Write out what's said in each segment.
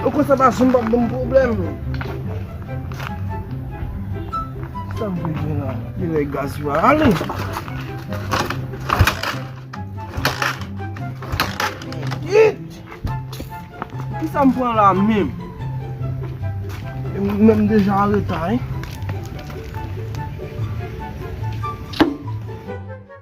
Ou kwè sa Basim pap banm pwoblèm? Sa m vle di la? Li lè gaz yo a ale. Yit! Ki sa m pran la menm? Mwen m deja anreta, hein?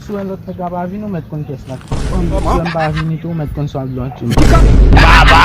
Si w wè lòt nèg la pa vini ou mèt konn pyès la tou. Si w wè m pa vini tou ou mèt konn sa w ap jwe ak yo. Baba!